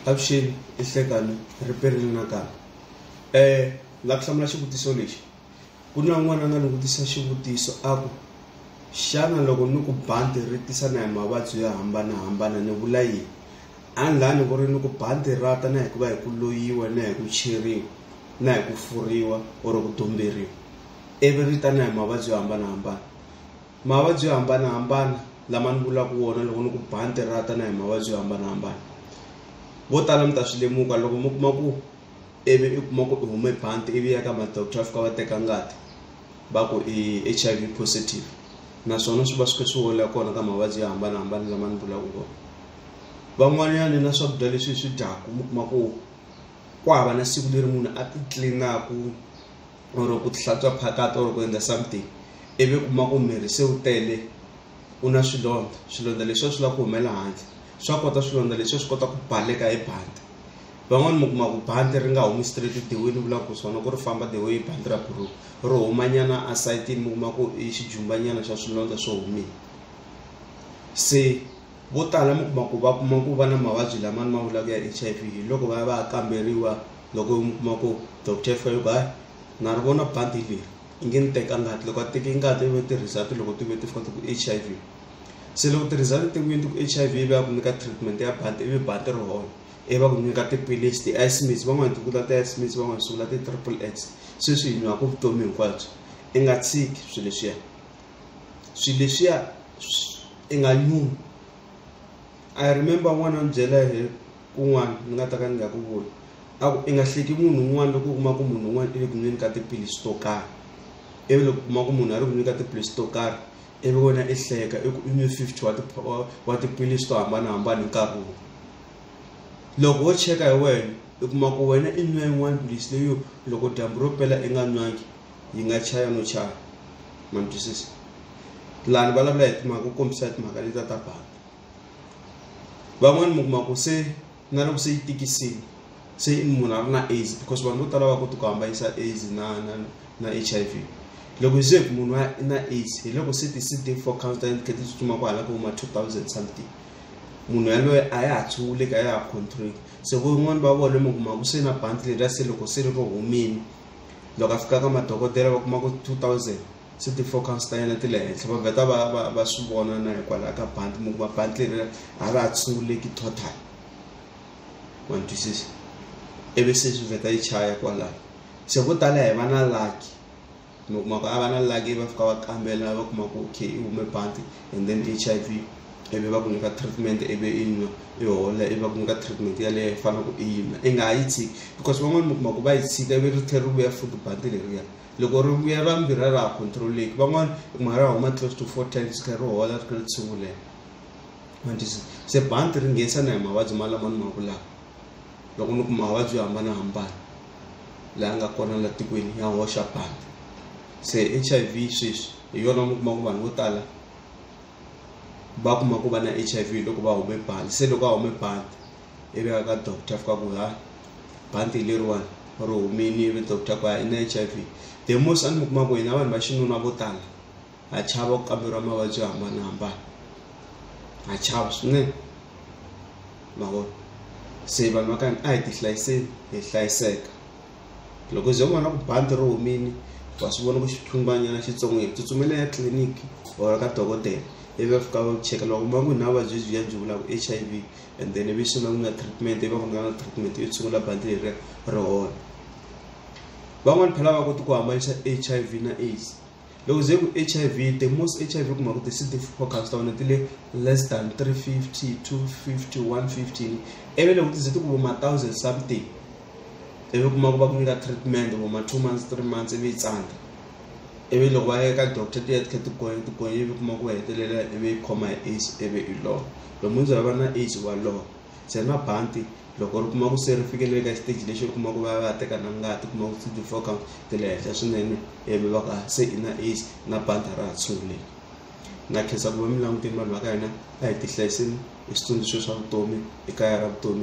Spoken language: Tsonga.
avuxeni i hlekani ri perile nakambe um la ku hlamula xivutiso lexi ku na un'wana a nga ni vutisa xivutiso a ku xana loko ni ku bandi ri tisana hi mavabyi yo hambanahambana ni vula yini a ni laha ni ku ri ni ku bandi rata na hi ku va hi ku loyiwa na hi ku cheriwa na hi ku furiwa or ku dumberiwa ivi ri ta na hi mavabyi yo hambanahambana Mavabyi yo hambanahambana lama ni vulaka wona loko ni ku ba ni tirata na hi mavabyi yo hambanahambana vo tala mi ta swi lemuka loko mi kuma ku ivi i kuma ku i hume bandi ivi ya ka madoctor a fika va teka ngati va ku i h i v positive naswona swi va swi kha swi hola kona ka mavabyi yo hambanahambana lama ni vulaka kona van'wanyana na swakudya leswi hi swi dyaku mi kuma ku ku hava na siku leri munhu a ti tlilinaku or ku tihlatswa phakati or ku endla something ivi u kuma ku miri se wu tele u na swilondza swilondza leswiwa swi lava ku humela handle swa kota swilondza leswiwa swi kota ku baleka hi bandi van'wani mi kuma ku bandi ri nga humi straight dewini ni vulaka ku swona ku ri famba the way bandi ra buruku ro humanyana a sayitini mi kuma ku i xijumbanyana xa swilondza swo humile se vo tala mi kuma ku va kuma ku va na mavabyi lamani ma vulaka ya H_I_V hi loko va ya va ya kamberiwa loko mi kuma ku doctor Felby na ri vona bandi leri i nge ni teka ngati loko a teke ngati ivi u tirhisa ti loko ti ve ti fika ti ku H_I_V se loko tirhisa ti tekiwini ti ku H_I_V ivi va ku nyika treatment ya bandi ivi bandi ri hola ivi va ku nyika tiphilisi ti-ice mix van'wani ti vula ti-ice mix van'wani swi vula ti-triple X se swi hi nwaku vutomi hinkwabyo i nga tshiki swi leswiya swi leswiya i nga nyumi I remember n'wana a ni byela hi. kun'wana ni nga ta ka ni nga ku voni a ku i nga hleki munhu un'wana loko u kuma ku munhu un'wana i le ku nweni ka tiphilisi to karhi ivi loko u kuma ku munhu a ri ku nweni ka tiphilisi to karhi ivi wena i hleka i ku i nwe fifty wa wa tiphilisi to hambanahambana hi nkarhi wun'we loko wo cheka hi wena i kuma ku wena i nwe yin'wana philisi leyo loko dyambu ro pela i nga nwangi yi nga chaya no chaya ma ni twisisa lani vulavula hi timhaka ku kombisa hi timhaka leti ta ta banga van'wani mi kuma ku se na loko se yi tikisini se munhu a ri na aids because vanhu vo tala va koti ku hambanisa aids na na na H_I_V loko hi ze ku munhu a na aids hi loko se ti C_D four count ta yena ti kha ti tsutsuma ku hala ka huma two thousand something munhu yaloye a ya ha tshunguleki a ya ha control se van'wani va vona mi kuma ku se na bandi leriya se loko se ri ro humini loko a fika ka madokodela va kuma ku two thousand se ti-focus ta yena ti le henhla va vheta va va va swi vona na hikwalaho ka bandi mi kuma bandi leri a ra ha tshunguleki total wa ni twisisa ivi se swi vheta yi chaya kwalaho se vo tala hi va na lucky mi kuma ku a va na lucky va fika va kambela va kuma ku okay i hume bandi and then h i v ivi va ku nyika treatment ivi i nwa i hola ivi va ku nyika treatment yaleyo i fanele ku i yi nwa i nga ha yi tshiki because van'wani mi kuma ku va yi tshika ivi ri tlhela ri vuya futhi bandi leriya loko ri vuya ra mbirhi a ra ha controleki van'wana i kuma ra huma close to four times kha ri hola ri kha ri tshingulela mandisi se banti ri nghenisana hi mavabyi malama ni mangu lawa loko ni ku mavabyi yo hambanahambana laha nga kona la tikweni ya hoxa banti se h i v sweswi hi yona mi kuma ku vanhu vo tala va kuma ku va na h i v loko va hume banti se loko a hume banti ivi a ya ka doctor fika ku ha bandi leriwani ri humini ivi doctor ku ha i na h i v the most a ni mi kuma ku hina vanhu va xinuna vo tala ha chava ku kamberiwa mavabyi yo hambanahambana ha chava swinene mavona se vanhu va ka hina a hi ti hlayiseni hi hlayiseka loko ze u vona ku bandi ri humini wa swi vona ku xithumbanyana xitsongo hi tsutsumela ya tliliniki or ka dokodela ivi va fika va cheka loko ma ku hi na vuvabyi byi ya byi vulaka h i v and then ivi sungula ku nga treatment ivi va ku nyika na treatment yo tshungula bandi leri ri hola van'wani phela va koti ku hambanisa h i v na aids loko ze ku h i v the most h i v kuma ku ti-cd four counts ta wena ti le less than 350 250 150 ivi loko ti ze ti ku voma thousand something ivi kuma ku va ku nyika treatment voma two months three months ivi yi tsandza ivi loko va ya ka doctor ti ya ti kha ti gonya ti gonya ivi kuma ku va hetelela ivi yi khoma hi aids ivi i lova lomu ndzi va na age walowo se na bantu loko ri kuma ku se ri fikele ka xiteji lexi u kuma ku va va ya teka na ngati kuma ku ti four count ti le henhla swinene ivi va ka se i na age na bantu a ra ha tshunguleki na khensa ku va mi languteni vanhu va ka hina a hi tihlayiseni hi switsundzuxo swa vutomi ekaya ra vutomi.